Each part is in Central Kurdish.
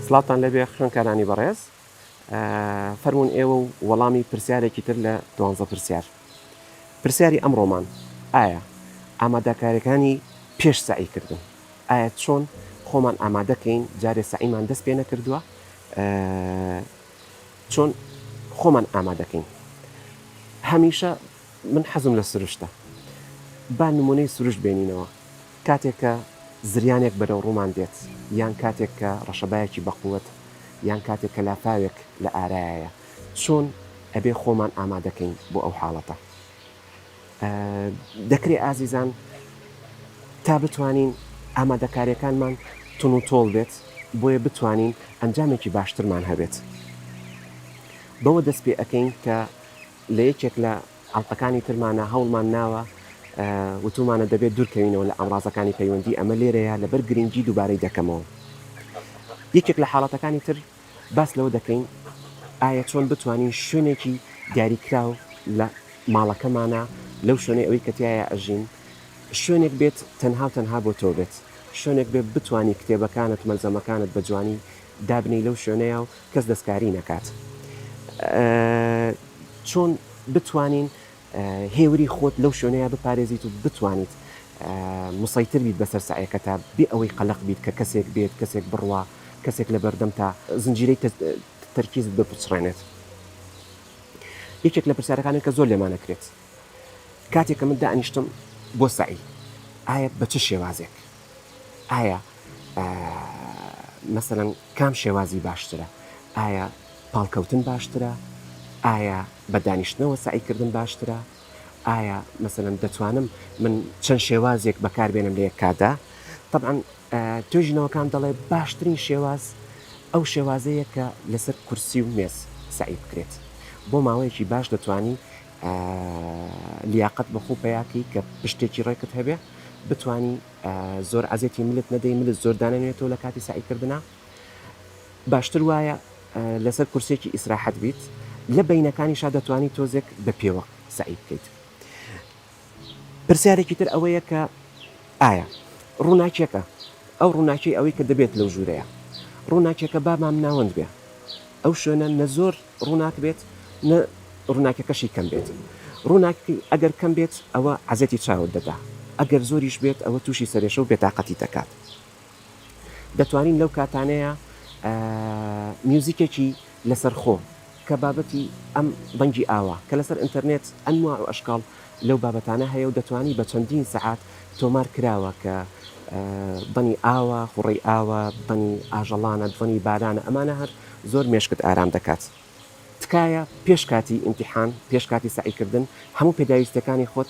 سڵاوتان لێبێ خوێنکارانی بەڕێز فەرموون ئێوە و وەڵامی پرسیارێکی تر لە دوانزە پرسیار پرسیاری ئەمڕۆمان ئایا ئامادەکاریەکانی پێش سعی کردن ئایا چۆن خۆمان ئامادەکەین جارێ سعیمان دەست پێ نەکردووە چۆن خۆمان ئامادەکەین هەمیشە من حەزم لە سروشتە با نمونەی سروشت بێنینەوە کاتێک کە زریانێک بەرەو ڕوومان دێت، یان کاتێک کە ڕەشەبایەکی بەقوەت، یان کاتێک کە لافاوێک لە ئارایایە، چۆن ئەبێ خۆمان ئامادەکەین بۆ ئەو حاڵەتە؟ دەکرێ ئازیزان تا بتوانین ئامادەکاریەکانمان تون و تۆڵ بێت، بۆیە بتوانین ئەنجامێکی باشترمان هەبێت. بەوە دەست پێ ئەکەین کە لە یەکێک لە ئەڵقەکانی ترمانە هەوڵمان ناوە وتومانە دەبێت دورکەوینەوە لە ئامڕازەکانی پەیوەندی ئەمە لێرەیە لەبەر گرنگی دوبارەی دەکەمەوە یەکێک لە حاڵەتەکانی تر باس لەوە دەکەین ئایا چۆن بتوانین شوێنێکی دیاریکراو لە ماڵەکەمانە لەو شوێنەی ئەوەی کە تایە ئەژین شوێنێک بێت تەنها و تەنها بۆ تۆ بێت شوێنێک بێ بتانی کتێبەکانت مەلزەمەکانت بە جوانی دابنی لەو شوێنەیە و کەس دەستکاری نەکات چۆن بتوانین هێوری خۆت لەو شوێنەیە بپارێزیت و بتوانیت مسەیتر بیت بەسەر سعیەکەتا بێ ئەوەی قەلق بیت کە کەسێک بێت کەسێک بڕوا کەسێک لە بەردەم تا زنجیرەی تەرکیزت بپچڕێنێت یەکێک لە پرسیارەکانێک کە زۆر لێمانەکرێت کاتێک کە من دانیشتم بۆ سعی ئایا بە چ شێوازێک ئایا مەسەلەن کام شێوازی باشترە؟ ئایا پاڵکەوتن باشترە؟ ئایا بە دانیشتنەوە سەعیکردن باشترە؟ ئایا مەسەلەن دەتوانم من چەند شێوازێک بەکاربێنم لە یەک کاتدا؟ تەبعەن توێژینەوەکان دەڵێ باشترین شێواز ئەو شێوازەیە کە لەسەر کورسی و مێز سەعی بکرێت بۆ ماوەیەکی باش دەتوانی لیاقەت بە خۆو پەیا کەی کە پشتێکی ڕێکت هەبێ بتوانی زۆر عەزێتی ملت نەدەی ملت زۆر دانەنوێتەوە لە کاتی سەعی کردنا باشتر وایە لەسەر کورسێکی ئیسراحەت بیت لە بینەکانی شا دەتوانی تۆزێک بە پێوە سەعی بکەیت پرسیارێکی تر ئەوەیە کە ئایا ڕووناکییەکە ئەو ڕووناکیی ئەوەی کە دەبێت لەو ژوورەیە ڕووناکییەکە با مامناوەند بێ ئەو شوێنە نە زۆر ڕووناک بێت نە ڕووناکییەکەشی کەم بێت ڕووناکیی ئەگەر کەم بێت ئەوە عەزێتی چاوت دەدا ئەگەر زۆریش بێت ئەوە تووشی سەرێشە و بێتاقەتی دەکات. دەتوانین لەو کاتانەیە میوزیکێکی لەسەرخۆ کە بابەتی ئەم دەنگی ئاوا کە لەسەر ئینتەرنێت ئەنواع و ئەشکاڵ لەو بابەتانە هەیە و دەتوانی بە چەندین سەعات تۆمار کراوە کە دەنی ئاوا خوڕی ئاوا دەنی ئاژەڵانە دەنی بارانە ئەمانە هەر زۆر مێشکت ئارام دەکات تکایە پێش کاتی ئیمتیحان پێش کاتی سەعیکردن هەموو پێداویستەکانی خۆت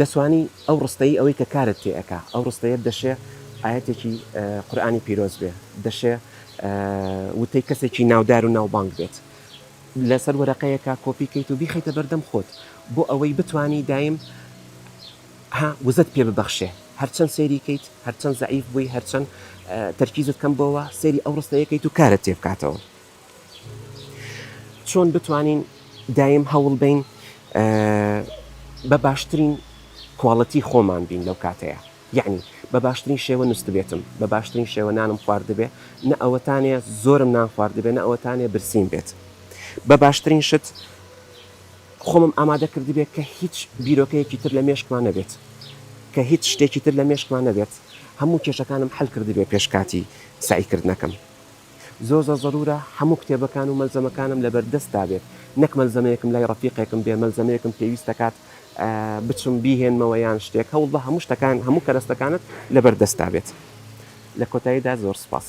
دەتوانی ئەو ڕستەی ئەوەی کە کارت تێ ئەکا ئەو ڕستەیەت دەشێ ئایەتێکی قورئانی پیرۆز بێ دەشێ وتەی کەسێکی ناودار و ناوبانگ بێت لەسەر وەرەقەیەکە کۆپی کەیت و بیخیتە بەردەم خۆت بۆ ئەوەی بتانی دایم ها وزت پێ ببەخشێ هەرچەند سێری کەیت هەرچەند زعیف بووی هەرچەند تەرکیزت کەم بۆەوە سێری ئەو ڕستەیەکەیت و کارت تێ بکاتەوە چۆن بتوانین دایم هەوڵ بەین بە باشترین کواڵتی خۆمان بین لەو کاتەیە یعنی بە باشترین شێوە نوستبێتم بە باشترین شێوە نانم خواردبێ نە ئەوەتانێ زۆرم نان خواردبێ نە ئەوەتانێ برسیم بێت بە باشترین شت خۆمم ئامادە کردبێت کە هیچ بیرۆکەیەکی تر لە مێشکمان نەبێت کە هیچ شتێکی تر لە مێشکمان نەبێت هەموو کێشەکانم حل کردبێ پێشکاتی سعیکردنەکەم زۆر زۆر زەرورە هەموو کتێبەکان و مەلزەمەکانم لەبەر دەستدا بێت نەک مەلزەمەیەکم لای ڕەفیقێکم بێ مەلزەمەیەکم پێویست دەکات بچم بیهێنمەوە یان شتێک هەوڵبە هەموو شتەکان هەموو کەرەستەکانت لەبەر دەستدا بێت لە کۆتاییدا زۆر سوپاس.